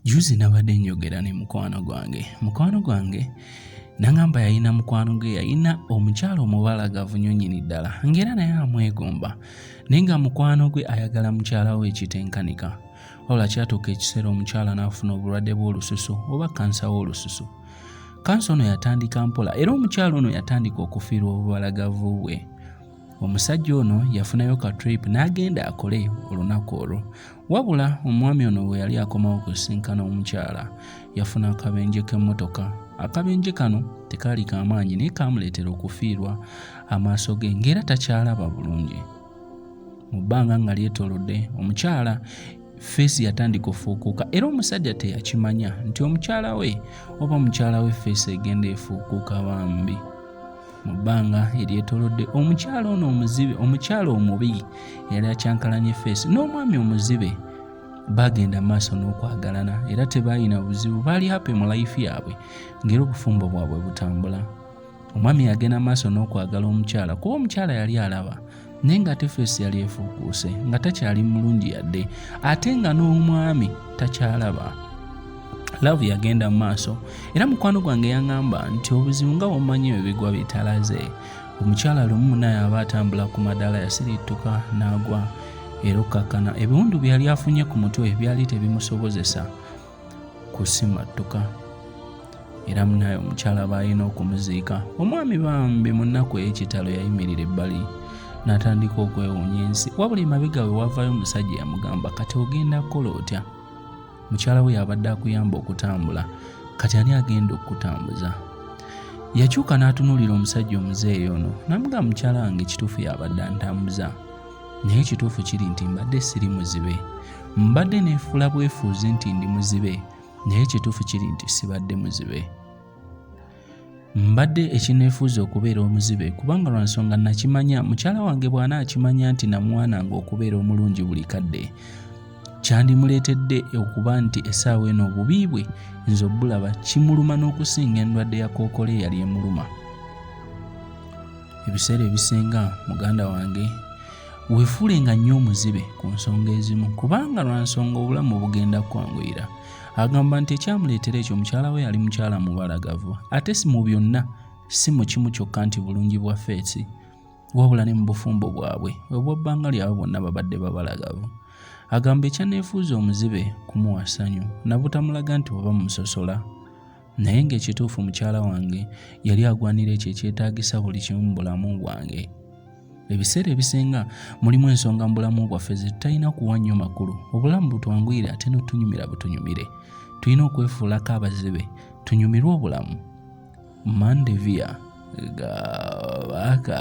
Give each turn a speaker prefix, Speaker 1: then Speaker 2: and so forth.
Speaker 1: Juzi nabadde njogera ne mukwano gwange mukwano gwange nangamba yalina mukwano gwe yalina omukyalo omubalagavu nyo nyini ddala ngaera naye amwegomba naye nga mukwano gwe ayagala mukyala we ekitenkanika wabula kyatuuka ekiseera omukyala n'afuna obulwadde bw'olususu oba kansa w'olususu kansa ono yatandika mpola era omukyala ono yatandika okufiirwa obubalagavu bwe omusajja ono yafunayo ka trip n'agenda akole olunaku olwo wabula omwami ono bwe yali akomawo kusinkana omukyala yafuna akabenje k'emmotoka akabenje kano tekaali kamaanyi naye kaamuleetera okufiirwa amaaso ge ng'era takyalaba bulungi mu bbanga nga lyetoolodde omukyala feesi yatandika ofuukuuka era omusajja teyakimanya nti omukyala we oba mukyala we feesi egenda efuukuuka bambi mu bbanga eryetolodde omukyala ono omuzibe omukyala omubi yali akyankalanye feesi n'omwami omuzibe bagenda maaso n'okwagalana era tebalina buzibu baali hape mu layifu yaabwe ng'era obufumbo bwabwe butambula omwami yagenda maaso n'okwagala omukyala kuba omukyala yali alaba naye ng'ate feesi yali efuukuuse nga takyali mulungi yadde ate nga n'omwami takyalaba laavu yagenda mu maaso era mukwano gwange yaŋŋamba nti obuzibu nga wamanyi ebyo bigwa bitalaze omukyala lumu munaye aba atambula ku madaala yasirittuka n'agwa era okkakkana ebiwundu byeyali afunye ku mutwe byali tebimusobozesa kusimattuka era munaye omukyala baalina okumuziika omwami bambi mu nnaku ey'ekitalo yayimirira ebbali n'atandika okwewuunya ensi wabula emabega we wavayo omusajja yamugamba kati ogenda kukola otya mukyala we yabadde akuyamba okutambula kati ani agenda okukutambuza yakyuka n'atunuulira omusajja omuzeeyi ono n'amugamba mukyala wange ekituufu yabadde antambuza naye ekituufu kiri nti mbadde siri muzibe mbadde neefuula bwefuuzi nti ndi muzibe naye ekituufu kiri nti sibadde muzibe mbadde ekineefuuza okubeera omuzibe kubanga lwa nsonga nakimanya mukyala wange bw'ana akimanya nti namwananga okubeera omulungi buli kadde kyandimuleetedde okuba nti essaawa eno obubi bwe nze obulaba kimuluma n'okusinga endwadde ya kookolo eyali emuluma Ebiseera ebisinga muganda wange wefuule nga nnyo omuzibe ku nsonga ezimu kubanga lwa nsonga obulamu bugenda kwanguyira agamba nti ekyamuleetera ekyo mukyala we yali mukyala mubalagavu ate si mu byonna si mu kimu kyokka nti bulungi bwa feesi wabula ne mu bufumbo bwabwe obwabbanga lyabwe bonna babadde babalagavu agamba ekyaneefuuza omuzibe kumuwa ssanyu nabutamulaga nti oba musosola naye ng'ekituufu mukyala wange yali agwanira ekyo ekyetaagisa buli kimu mu bulamu bwange ebiseera ebisinga mulimu ensonga mu bulamu bwaffe zetutalina kuwa nnyo makulu obulamu butwanguyire ate notunyumira butunyumire tulina okwefuulako abazibe tunyumirwe obulamu mandevia gabaka